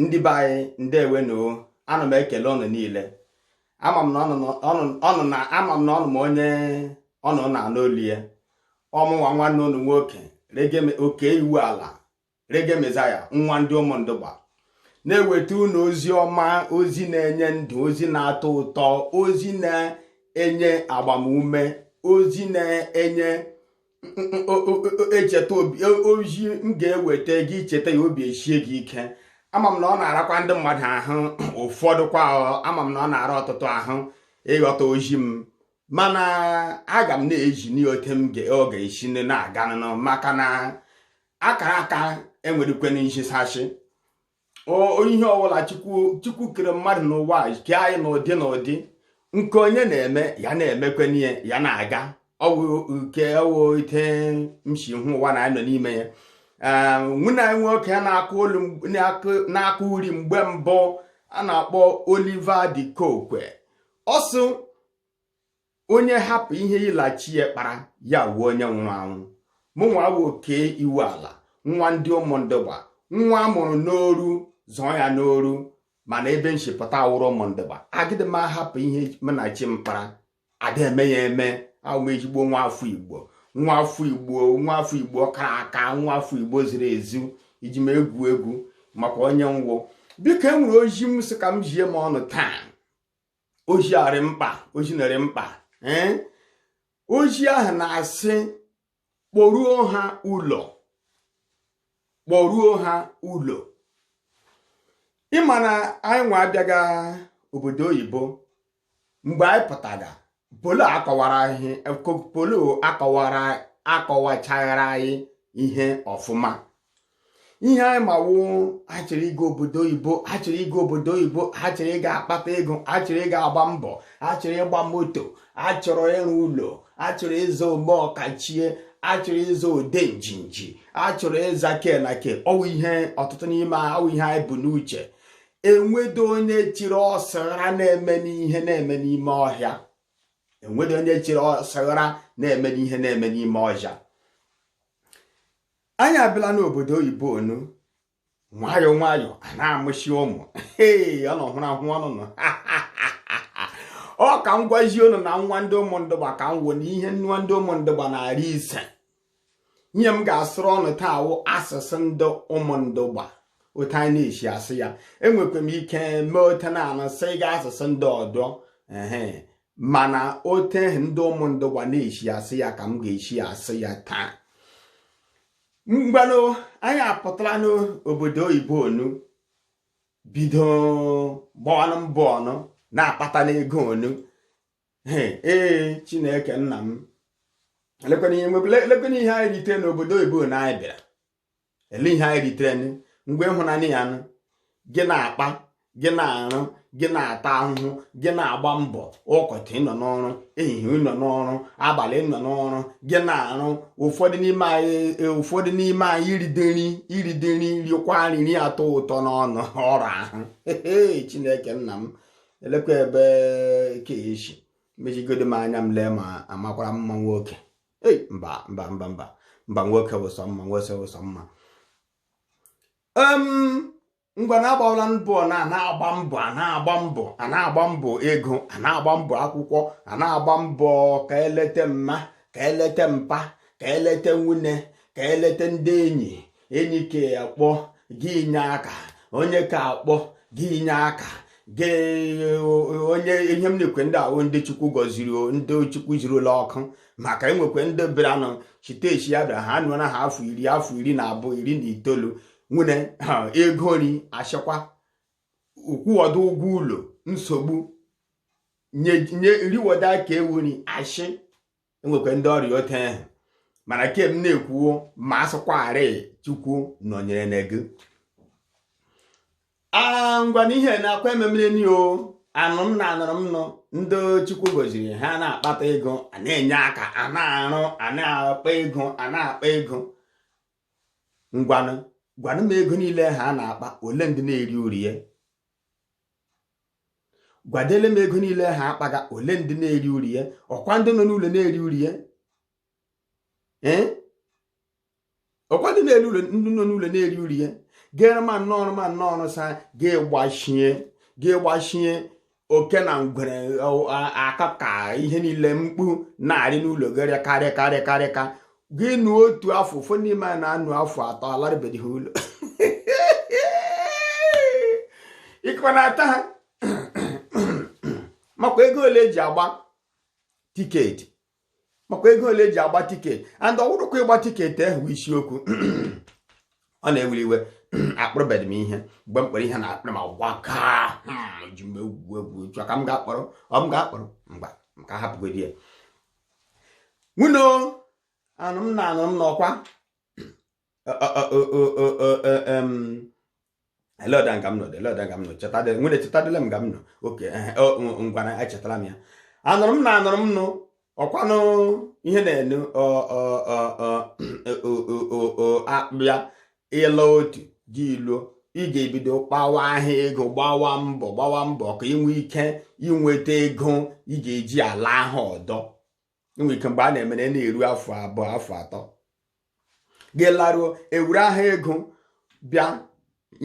ndị be anyị ndeewonu ana m ekele unu niile ama m na ọnụ na ama m na ọnụ ma onye ọnụ na-anụ olu ya ọ mụnwa nwanne unu nwoke oke iwu ala Reggae Messiah nwa ndị ụmụndụgba na-eweta unu ozi ọma ozi na-enye ndụ ozi na-atọ ụtọ ozi na-enye agbamume ozi na-enye echeta ozi m ga-eweta gị i cheta ya obi eshie gị ike ama m na ọ na-arakwa ndị mmadụ ahụ ụfọdụ kwa ama m na ọ na-ara ọtụtụ ahụ ịghọta ozi m mana aga m na-ezi n'ote m ọ ga-esi nne na-aganụ maka na akara aka enwerekwe nhichashi ihe ọbụla chukwu kere mmadụ n'ụwa ke anyị n'ụdị n'ụdị nke onye na-eme ya na-emekweni ya na-aga ọ wụ nke ọ wụ ote m shi hụ ụwa anyị nọ n'ime ya ehm, nwanne anyị nwoke na-akụ olu na-akụ uri mgbe mbụ a na-akpọ Oliver de Coque ọ sị onye hapụ ihe ya la chi ya kpara ya wuo onye nwụrụ anwụ mụnwa wụ oke iwu ala nwa ndị ụmụndụgba nwa a mụrụ n'oru zụọ ya n'oru mana ebe m shi pụta awụrụ ụmụndụgba agịdị m ahapụ ihe mụ na chi m kpara ada eme ya eme awụ m ezigbo nwa afọ igbo nwa afọ igbo nwa afọ igbo kara aka nwa afọ igbo ziri ezu eji m egwu egwu maka onye m wụ biko e nwere ozi m sị ka m zie ọnụ taa ozi a rị mkpa ozi na-arị mkpa ee ozi ahụ na-asị kpọruo ha ụlọ kpọruo ha ụlọ ị ma na anyị nwa abịaga obodo oyibo mgbe anyị pụtara polo akọwara ihe polo akọwara akọwachaghara anyị ihe ọfụma ihe anyị ma wụ ha chọrọ ịga obodo oyibo ha chọrọ ịga obodo oyibo ha chọrọ ịga akpata ego ha chọrọ ịga agba mbọ ha chọrọ ịgba moto ha chọrọ ịrụ ụlọ ha chọrọ ịza ome ọkachie ha chọrọ ịza ode njinji ha chọrọ ịza ke na ke ọ wụ ihe ọtụtụ n'ime ọ wụ ihe anyị bu n'uche enwedo onye chiri ọsara na-eme n'ihe na-eme n'ime ọhịa enwedo onye chiri ọsara na-eme n'ihe na-eme n'ime ọhịa anyị abịala n'obodo oyibo onu nwayọọ nwayọọ a na-amụshi ụmụ ee ọ nọ hụrụ ahụ ọnụ nọ ọ ka m gwazie unu na nwa ndị ụmụndụgba ka m wụ na ihe nwa ndị ụmụndụgba na-arị iche ihe m ga-asụrụ ọnụ taa wụ asụsụ ndị ụmụndụgba ote anyị na-eshi asụ ya enwekwa m ike mee otu na-anụsịga asụsụ ndị ọdọ ee mana otu ahụ ndị ụmụ ndị igbo na-eshi asụ ya ka m ga-eshi asụ ya taa ngwanụ anyị apụtala n'obodo oyibo onu bido gbọọnụ mbọ ọnụ na-akpatanụ ego onu ee chineke nna m lekwana ihe anyị rite n'obodo oyibo na anyị bịara ele ihe anyị ritere ngwa ị hụnanụ ya nụ gị na-akpa gị na-arụ gị na-ata ahụhụ gị na-agba mbọ ụtụtụ ịnọ n'ọrụ ehihie ịnọ n'ọrụ abalị ịnọ n'ọrụ gị na-arụ ụfọdụ n'ime anyị e, ụfọdụ n'ime anyị iride nri iride nri riekwa nri atọ ụtọ n'ọnụ ọrụ ahụ chineke nna m elekwa ebe keeshi mechigodo m anya m lee ma amakwara m mma nwoke ei mba mba mba mba mba nwoke wụ sọ mma nwoke wụ sọ mma ngwanụ agbawala mbọ nụ a na-agba mbọ a na-agba mbọ a na-agba mbọ ego a na-agba mbọ akwụkwọ a na-agba mbọ ka eleta mma ka eleta mpa ka eleta nwunye ka eleta ndị enyi enyi ke a kpọ gị i nye aka onye ke a kpọ gị i nye aka gị onye ihe m na-ekwu ndị a wụ ndị chukwu gọziri ndị chukwu zirila ọkụ maka enwekwa ndị bịaranụ shite eshi a bịara ha anọọna ha afọ iri afọ iri na abụọ iri na itoolu nwere ego nri ashịkwa ịkwụgodu ụgwọ ụlọ nsogbu nye riweda ka ewu nri ashị enwekwa ndị ọ rị otu ahụ mana nke m na-ekwu o ma asụkwagharị chukwu nọnyere na gị ngwa na ihe na-akwa ememere ni o anụrụ m nụ anụrụ m nụ ndị chukwu goziri ha na-akpata ego a na-enye aka a na-arụ a na-akpa ego a na-akpa ego ngwanụ gwanụ m ego niile ha na-akpa ole ndị na-eri uru ya gwadele m ego niile ha akpaga ole ndị na-eri uru ya ọkwa ndị nọ n'ụlọ na-eri uru ya ọkwa ndị na-eri ụlọ ndị nọ n'ụlọ na-eri uru ya gere mana ọ wụrụ mana ọ wụrụ sị a ga-egbachie ga-egbachie oke na ngwere aka ka ihe niile mkpu na-arị n'ụlọ ga-arị karịa karịa karịa ka gị nọọ otu afọ ụfọdụ n'ime anyị na-anọ afọ atọ alarubeghị ụlọ ịkwa na-ata ha makwa ego ole eji agba tiketi makwa ego ole eji agba tiketi and ọ wụghịkwa ịgba tiketi ahụ wụ isiokwu ọ na-ewuli iwe akpụrụbeghị m ihe mgbe m kpọrọ ihe na akpụrụ ma gwaka hmm, ji m egwu egwu chọ ka m ga-akpọrọ ọ m ga-akpọrọ mgba m ka hapụgodi ya nwuno anụrụ m na anụrụ m nụ ọkwa ele ọda nga m nọ ele ọda nga m nọ chetadị nwere chetadịla m nga m nọ okay ngwanụ echetala m ya anụrụ m na anụrụ m nụ ọkwanụ ihe na-enu akpụ ya ị la otu gị i luo ị ga-ebido kpawa ahịa ego gbawa mbọ gbawa mbọ ka ị nwee ike inweta ego ị ga-eji ala ahụ ọdọ i nwe ike mgbe a na-emere na-eru afọ abụọ afọ atọ gị laruo ewuru ahụ ego bịa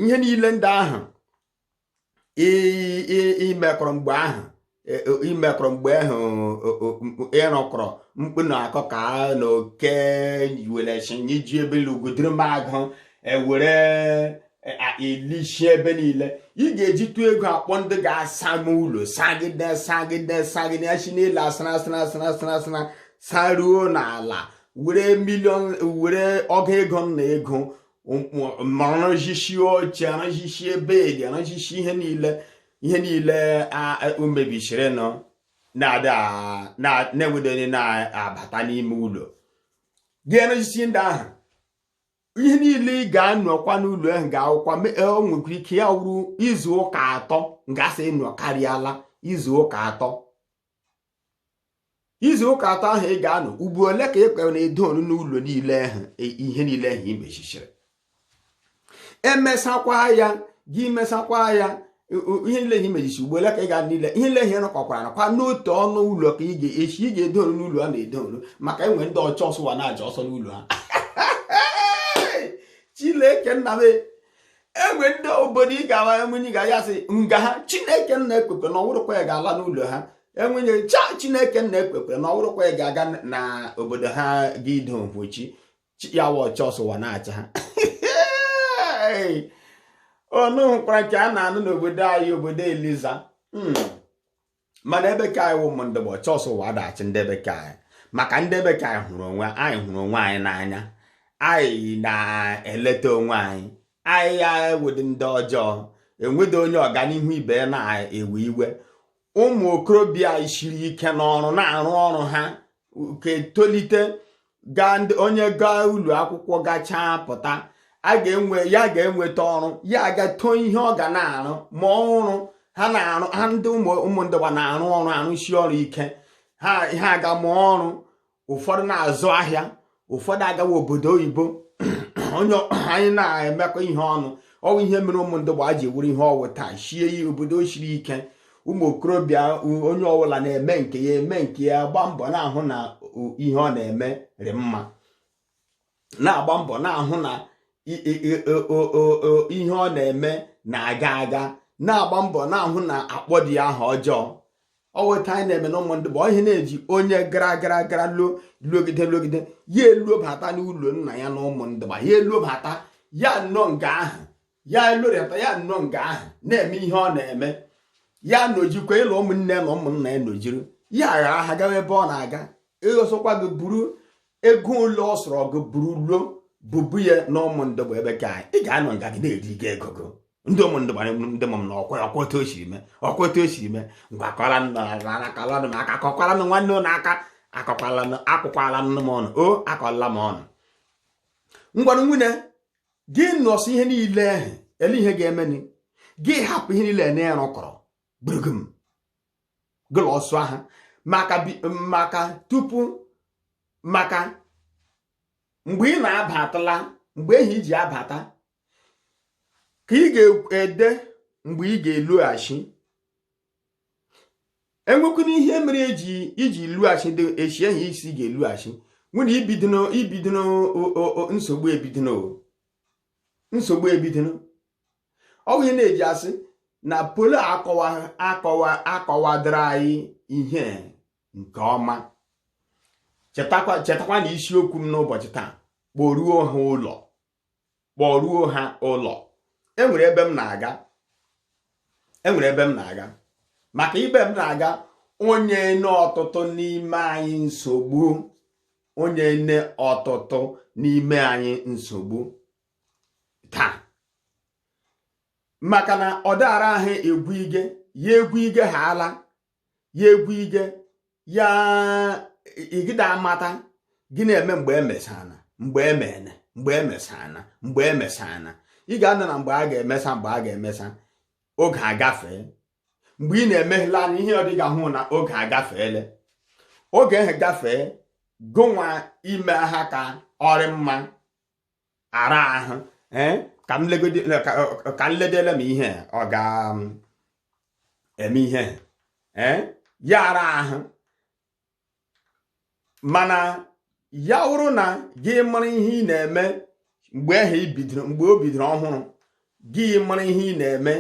ihe niile ndị ahụ imekọrọ mgbe ahụ e, e, imekọrọ mgbe ahụ ị rụkọrọ mkpu na akịka na oke welechiji ebe ugwu dịrị m agụ ewere e, elishi ebe niile ị ga-eji tụọ ego akpọ ndị ga-asa m ụlọ sagide sagide sagide si n'elu asara asara asara asara asara saruo n'ala were million were ọgụ ego na ego m arụzishi oche arụzishie bed arụzishi ihe niile ihe niile o mebisiri nụ na enwedị onye na-abata n'ime ụlọ gị arụzishi ndị ahụ ihe niile ị ga-anọkwa n'ụlọ ahụ ga-awụkwa e, o nwekwara ike ya wụrụ izu ụka atọ gasị ị nọkarịala izu ụka atọ izu ụka atọ ahụ ị ga-anọ ugbo ole ka ị ga na-edo ọnụ n'ụlọ niile ahụ e, ihe niile ahụ i mesishiri emesakwa ya gị mesakwa ya ihe niile ihe imechichi ugbo ole ka ị ga niile ihe niile ihe rụkọkwara nakwa n'otu ọnụ ụlọ ka ị ga-echi ị ga-edo ọnụ n'ụlọ a na-edo ọnụ maka enwe ndị ọchụ ọsọ ụwa na-achụ ọsọ n'ụlọ ha Chineke nna m enwe ndị obodo ị ga-ala enwe onye ị ga ya sị nga ha chineke nna ekwekwana ọ wụrụkwa ya ga-ala n'ụlọ ha enwe onye sị a chineke nna ekwekwana ọ wụrụkwa ya ga-aga na obodo ha ga ido mpochi ya wụ ọchụ ọsọ ụwa na-achụ ha ụnụ hụkwara nke a na-anụ n'obodo anyị obodo Eliza hmm. mana ebe ke anyị wụ ụmụ ndị Igbo ọchụ ọsọ ụwa adaghị achụ ndị ebe ke anyị maka ndị ebe ke anyị hụrụ onwe anyị hụrụ onwe anyị n'anya anyị na-eleta onwe anyị anyị awụdị ndị ọjọọ enwedị onye ọganihu ibe na-ewe iwe ụmụ okorobịa anyị siri ike n'ọrụ na-arụ ọrụ ha ka etolite gaa onye gaa ụlọ akwụkwọ gachaa pụta a ga-enwe ya ga-enweta ọrụ ya aga tọọ ihe ọ ga na-arụ mụọ ọrụ ha na-arụ ha ndị ụmụ ndị Igbo na-arụ ọrụ arụsi ọrụ ike ha aga mụọ ọrụ ụfọdụ na-azụ ahịa ụfọdụ agawa obodo oyibo onye anyị na-emekọ ihe ọnụ ọ wụ ihe mere ụmụndụgba ji wụrụ ihe ọ wụ taa shie ya obodo shiri ike ụmụ okorobịa onye ọbụla na-eme nke ya eme nke ya agba mbọ na-ahụ na ihe ọ na-eme rị mma na-agba mbọ na-ahụ na ihe ọ na-eme na-aga aga na-agba mbọ na-ahụ na akpọdị ya aha ọjọọ ọ wụ etu anyị na-eme na ụmụndụgba ọ wụ ihe na-eji onye gara gara gara luo luogide luogide ya elobata n'ụlọ nna ya na ụmụndụgba ya elobata ya nọ nga ahụ ya elorịata ya nọ nga ahụ na-eme ihe ọ na-eme ya nojikwa ilo ụmụnne ya na ụmụnna ya nojiri ya aghara ha gawa ebe ọ na-aga ihe sọkwa gị buru ego ole ọ sọrọ gị buru lọ bụbu ya na ụmụndụgba ebe ka ị ga-anọ nga gị na-eri gị ego gị ndị ụmụndụgba ndị mụ m na ọkwa ọkwa otu o siri mee ọkwa otu o siri mee ngwa kọla nọrọnụ m aka kọkwara m nwanne ụlọ aka akọkwala m akwụkwala nne m ọnụ o akọla m ọnụ ngwanụ nwunye gị nọsị ihe niile ahụ ele ihe ga-emeni gị hapụ ihe niile na-erụkọrọ gburu gị m gụla ọsụ ahụ maka maka tupu maka mgbe ị na-abatala mgbe ahụ iji abata ka ị ga-ede mgbe ị ga-elughachi enwekwanụ ihe mere eji iji lughachi echi ehi isi ga-elughachi nwere ibido ibido nsogbu ebido nsogbu ebidoro ọ bụ ihe na-eji asị na polo akọwa akọwa akọwadoro anyị ihe nke ọma chetakwa chetakwa na isiokwu m n'ụbọchị taa kpọruo ha ụlọ kpọruo ha ụlọ enwere ebe m na-aga enwere ebe m na-aga maka ebe m na-aga ọ nyene ọtụtụ n'ime anyị nsogbu ọ nyene ọtụtụ n'ime anyị nsogbu taa maka na ọ dị ara ahụ egwu ige ya egwu ige ha ala ya egwu ige ya igide amata gị na-eme mgbe emesana mgbe emene mgbe emesana mgbe emesana ị ga-anọ na mgbe a ga-emesa mgbe a ga-emesa oge agafee mgbe ị na-emeghela anya ihe ọ dị ị ga-ahụ na oge agafeele oge ahụ gafee gụnwa ime ha ka ọ rị mma ara ahụ eh, ka m ledele m ihe ọ ga-eme um, ihe eh, ya ara ahụ mana ya wụrụ na gị mara ihe ị na-eme mgbe ahụ ibidoro mgbe o bidoro ọhụrụ gị mara ihe ị na-eme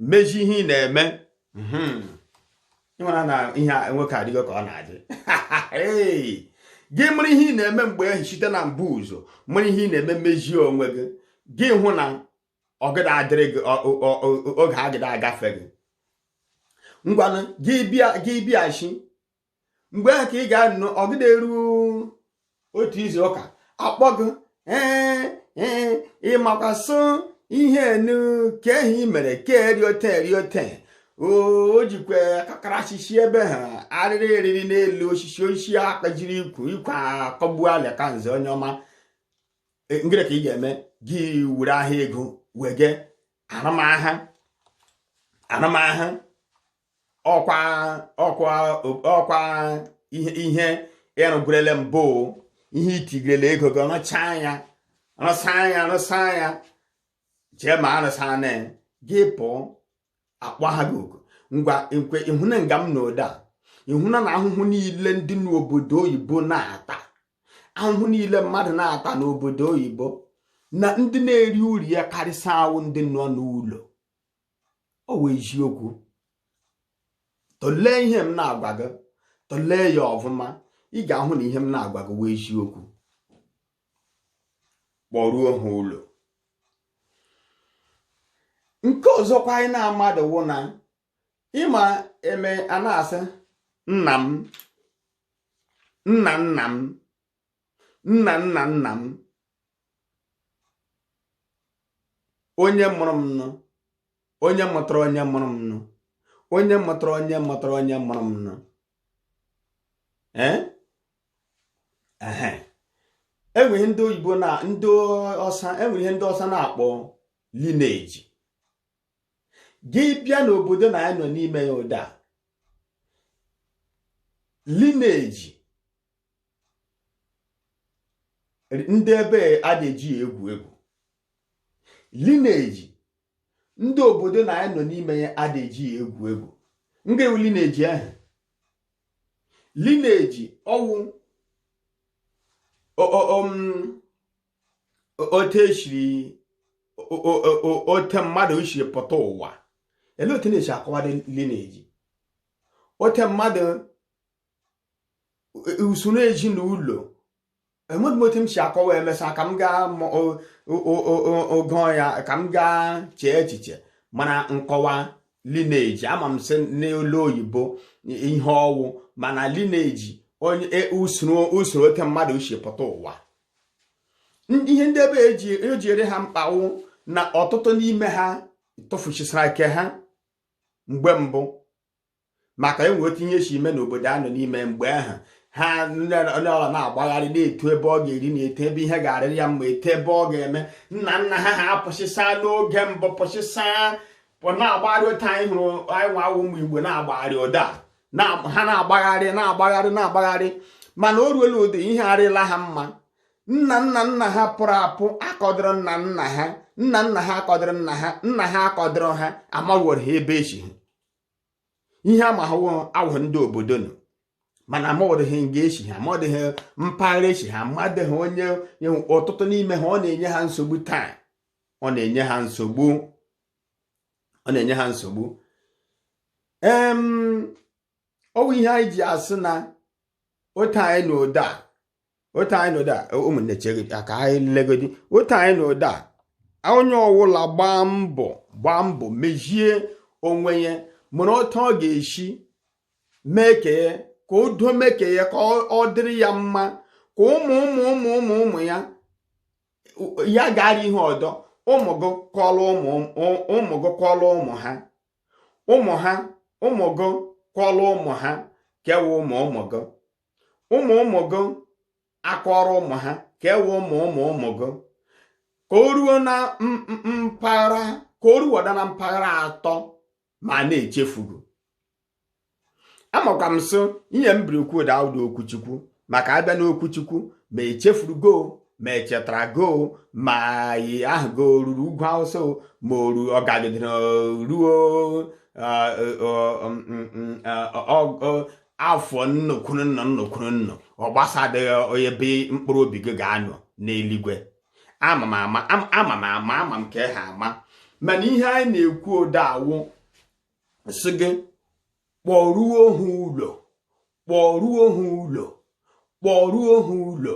mezi ihe ị na-eme hmm. ịmara na ihe a nwoke adịgo ka ọ na-adị gị mara ihe ị na-eme mgbe ahụ site na mbụ ụzọ mara ihe ị na-eme mezie onwe gị gị hụ na ọgịda adịrị gị oge agịda agafe gị ngwanụ gị bịa gị bịachi mgbe ahụ ka ị ga-anụ ọgịda eru otu izu ụka a kpọọ gị ee ee ịmakwasị ihe enu ka ehi mere ka eriote eriote o jikwa akakara achịchi ebe ha arịrị eriri n'elu osisi osisi akpajiri ikwu ikwe akọgbu ala ka nze onye ọma e, ngịrị ka ị ga-eme gị were ahịa ego wee gee arụma ha arụma ha ọkwa ọkwa ọkwa ihe ihe ị rụgwurele mbụ ihe i tigirele ego gị ọ rụchaa ya ọ rụsaa ya ọ rụsaa ya jee ma arụsa na gị pụọ akpọ ha gị oku ngwa nkwe ịhụna nga m nọ ụdaa ịhụna na ahụhụ niile ndị n'obodo oyibo na-ata ahụhụ niile mmadụ na-ata n'obodo oyibo na ndị na-eri uru ya karịsịa wụ ndị nọ n'ụlọ ọ wụ eziokwu tụlee ihe m na-agwa gị tụlee ya ọfụma ị ga-ahụ na ihe m na-agwa gị wụ eziokwu kpọruo ha ụlọ nke ọzọkwa anyị na-amadụ wụ na ị ma e mee a na-asị nna m nna nna m nna nna nna m onye mụrụ m nụ onye mụtara onye mụrụ m nụ onye mụtara onye mụtara onye mụrụ m nụ ee enweghị ndị oyibo na ndị ọsa enwere ihe ndị ọsa na-akpọ lineage gị bịa n'obodo na anyị nọ n'ime ya ụdaa lineage ndị ebe a ada eji egwu egwu lineage ndị obodo na anyị nọ n'ime ya ada eji egwu egwu nge wụ lineage ahụ lineage ọ wụ um, otu e siri otu mmadụ siri pụta ụwa ele otu na-esi akọwado lineage otu mmadụ usoro ezinụlọ amadịghị m otu m si akọwa emesa ka m gaa ogo ya ka m gaa chee echiche mara nkọwa lineage ama m sị n'olu oyibo ihe ọ wụ mana lineage onye e, usoro usoro oke mmadụ si pụta ụwa ihe ndị ebe e ji ere ha mkpa wụ na ọtụtụ n'ime ha tufusisara ke ha mgbe mbụ maka e nwe otu ihe si eme n'obodo a nọ n'ime mgbe ahụ ha onye ọwụla na-agbagharị na-etu ebe ọ ga-eri na-etu ebe ihe ga-arịrị ya mma etu ebe ọ ga-eme nna nna ha ha apụsịsa n'oge mbụ pụsịsa na-agbagharị otu anyị hụrụ anyị nwa wụ ụmụ igbo na-agbagharị ụdụ a ha na-agbagharị na-agbagharị na-agbagharị mana o ruola ụdị ihe arịla ha mma nna nna nna ha pụrụ apụ akọdịrọ nna nna ha nna nna ha akọdịrọ nna ha nna ha akọdịrọ ha amaghị ha ebe e si ihe a ma ha wụ ndị obodo nọ mana madịghị nga e si ha madịghị mpaghara e si ha madịghị onye ọtụtụ n'ime ha ọ na-enye ha nsogbu taa ọ na-enye ha nsogbu ọ na-enye ha nsogbu ọ wụ ihe anyị ji asị na otu anyị nọdụ a otu anyị nọdụ a ụmụnne chere ka anyị legodi otu anyị nọdụ a onye ọwụla gbaa mbọ gbaa mbọ mezie onwe ya mụrụ otu ọ ga-esi mee ke ya ka o doo mee ke ya ka ọ dịrị ya mma ka ụmụ ụmụ ụmụ ụmụ ụmụ ya ya gara ihu ọdọ ụmụ gị kọlụ ụmụ ụmụ gị kọlụ ụmụ ha ụmụ ha ụmụ gị kọlụ ụmụ ha ke wụ ụmụ ụmụ gị ụmụ ụmụ gị akọrọ ụmụ ha ke wụ ụmụ ụmụ ụmụ gị ka o ruo na mpaghara ka o ruwada na mpaghara atọ ma a na-echefu gị amakwa m sị ihe m bịara ikwu ụdụ a awụdị okwu chukwu maka a bịa n'okwu chukwu ma e chefuru gị ma e chetara gị ma aha gị ruru ugwu awụsa ma o ru ọ gagidere ruo afọ nnu kwuru nnu nnu kwuru nnu ọ gbasadịghị onye ebe mkpụrụ obi gị ga-anọ n'eluigwe ama m ama ama m ama ama m ke ha ama mana ihe anyị na-ekwu ụdụ a wụ sị gị kpọruo ha ụlọ kpọruo ha ụlọ kpọruo ha ụlọ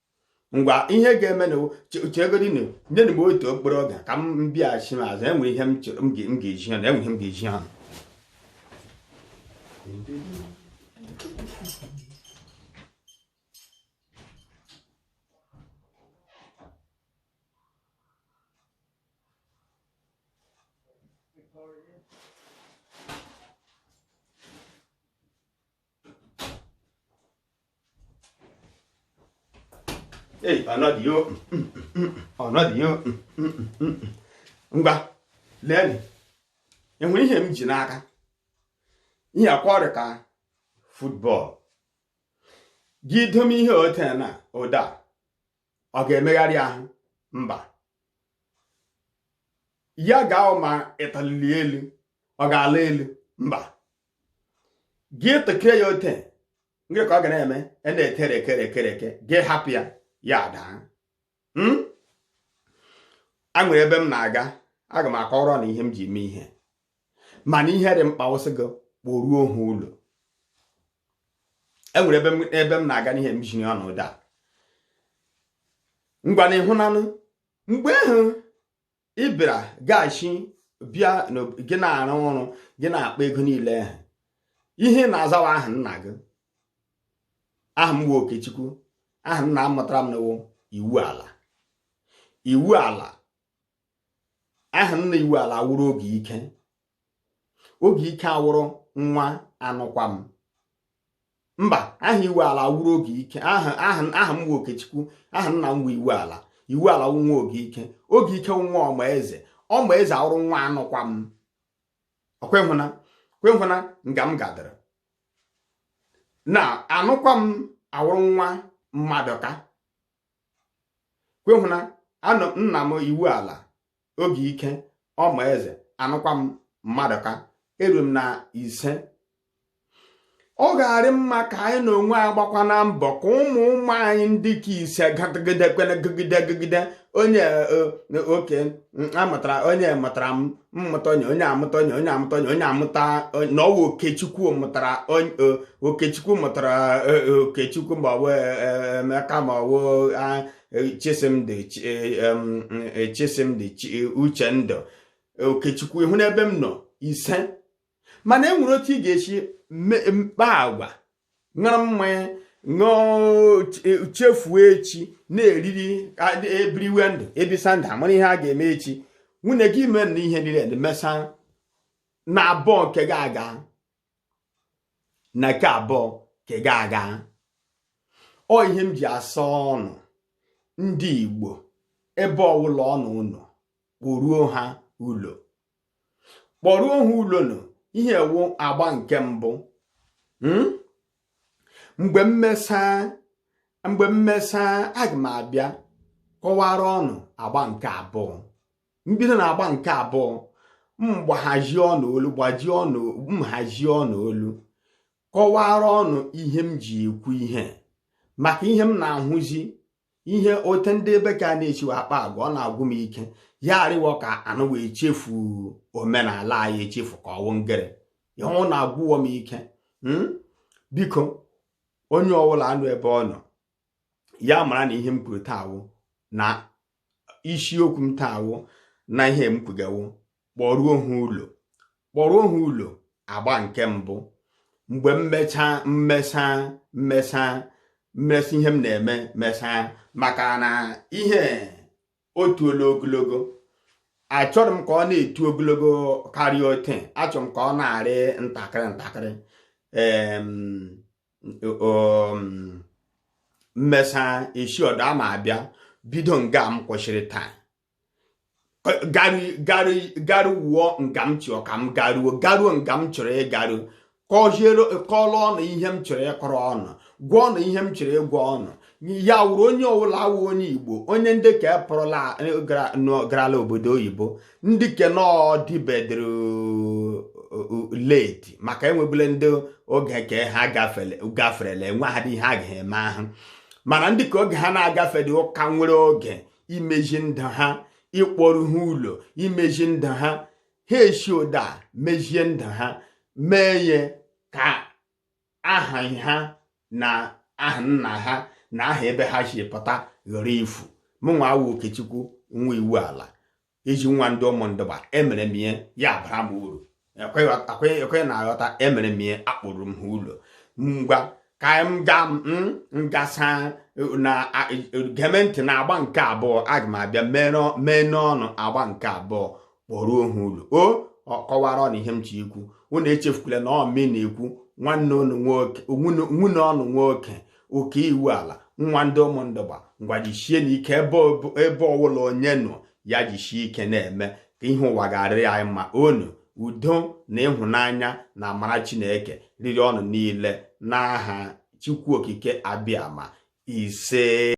ngwa ihe ga-emenụ chegodinụ nyenụ m otu okporo oge ka m bịaghachi m azụ e nwe ihe m ga-ezi unu e nwe ihe m ga-ezi unu ei ọnọdịyo ọnọdịyo ngwa leenị enwere ihe m ji n'aka ihe akwa ọrịa ka football gị dome ihe ote na ụda ọ ga-emegharị ahụ mba ya gaa ma ị tụli elu ọ ga-ala elu mba gị tụkee ya ote nke ka ọ ga na-eme e na-etere ekere ekere eke gị hapụ ya ya daa hmm? a nwere ebe m na-aga aga m akọrọ unu ihe m ji mee ihe mana ihe dị mkpa wụ sị gị kpọruo ha ụlọ e nwere ebe m na-aga n'ihe m jiri ọnọdụ a ngwa na ị hụnanụ mgbe ahụ ị bịara gaghachi bịa gị na-arụ ọrụ gị na-akpa ego niile ahụ ihe na-azawa aha nna gị aha m wụ Okechukwu aha nna mụtara m nụ wụ Iwuala Iwuala aha nna Iwuala awụrụ Ogeike Ogeike awụrụ nwa Anụkwam mba aha Iwuala awụrụ Ogeike aha m wụ Okechukwu aha nna m Iwuala Iwuala nwa Ogeike Ogeike nwa Ọmaeze Ọmaeze awụrụ nwa Anụkwam ọ kwa ị hụna kwa ị hụna nga m gadara na Anụkwam awụrụ nwa Mmadụka kwa ị hụna anọ nna m Iwuala Ogeike Ọmaeze Anụkwam Mmadụka eru m na ise ọ ga-arị mma ka anyị na onwe anyị gbakwanụ mbọ ka ụmụ ụmụ anyị ndị nke ise gagide gagide onye e, e, oke amụtara onye mụtara m mmụta onye onye amụta onye onye amụta onye onye amụta na ọ wụ okechukwu mụtara okechukwu mụtara e, e, okechukwu ma ọ bụ e, emeka ma ọ bụ chisimdị chisimdị uchendụ okechukwu ị hụna ebe m nọ ise mana e nwere otu ị ga-esi kpaa agwa ṅụrụ mmanya ṅụọ chefuo echi na-eriri e biriwe ndụ e bisa ndụ a mara ihe a ga-eme echi nwunye gị mee na ihe niile dị mesa na abụọ nke gị aga na nke abụọ nke gị aga ọ ihe m ji asị unu ndị Igbo ebe ọwụla unu nọ kpọruo ha ụlọ kpọruo ha ụlọ nụ ihe a wụ agba nke mbụ hmm? mgbe m mesa aga m abịa kọwara unu agba nke abụọ m bido na agba nke abụọ m hazie ọnụ olu kọwara unu ihe m ji ekwu ihe maka ihe m na-ahụzi ihe ote ndị ebe ka a na-echiwe akpa agwa ọ na-agwụ m ike ya arịwọ ka unu wee chefu omenala anyị echefu ka ọ wụ ngere ya ọ na-agwụwọ m ike hmm? biko onye ọwụla nọ ebe ọ nọ ya mara na ihe m kwuru taa wụ na isiokwu m taa wụ na ihe m kwuga wụ kpọruo ha ụlọ kpọruo ha ụlọ agba nke mbụ mgbe m mesa m mesa ihe m na-eme mesa maka na ihe etuola ogologo achọrọ m ka ọ na-etu ogologo karịa ote achọrọ m ka ọ na-arị ntakịrị ntakịrị m mesa esi ọdọ a m abịa bido nga m kwụsịrị taa garu wuo nga m chọọ ka m garuo garuo nga m chọrọ ịgaru kọọrọ unu ihe m chọrọ ịkọrọ unu gwa unu ihe m chọrọ ịgwa unu ya wụrụ onye ọwụla wụ onye igbo onye ndị ke pụrụla garala obodo oyibo ndị ke na ọ dịbedoro late maka e nwebula ndị oge ke ha gaferela enwehadị ihe a ga-eme ahụ mana ndị ke oge ha na-agafedị ọ ka nwere oge imezi ndụ ha ịkpọru ha ụlọ imezi ndụ ha ha esi ụda mezie ndụ ha mee ya ka aha ha na aha nna ha na aha ebe ha si pụta ghara ifu mụnwa awụ okechukwu nwa iwuala ezi nwa ndị ụmụndụgba emere m ihe ya bara m uru ọkwa ị na-aghọta emere m ihe akpọruru m ha ụlọ ngwa ka m ga m gasa na-ege m ntị na agba nke abụọ aga m abịa meere unu agba nke abụọ kpọruo ha ụlọ o ọ kọwara unu ihe m chọ ikwu unu echefukwala na ọ mụ na-ekwu nwanne unu nwoke oke iwuala nwa ndị ụmụndụgba ngwa jichie na ike ebe ọwụla onye nọ ya jichie ike na-eme ka ihe ụwa ga-arịrị anyị mma ọṅụ udo na ịhụnanya na amara chineke rịrị unu niile n'aha chukwu okike abịama ise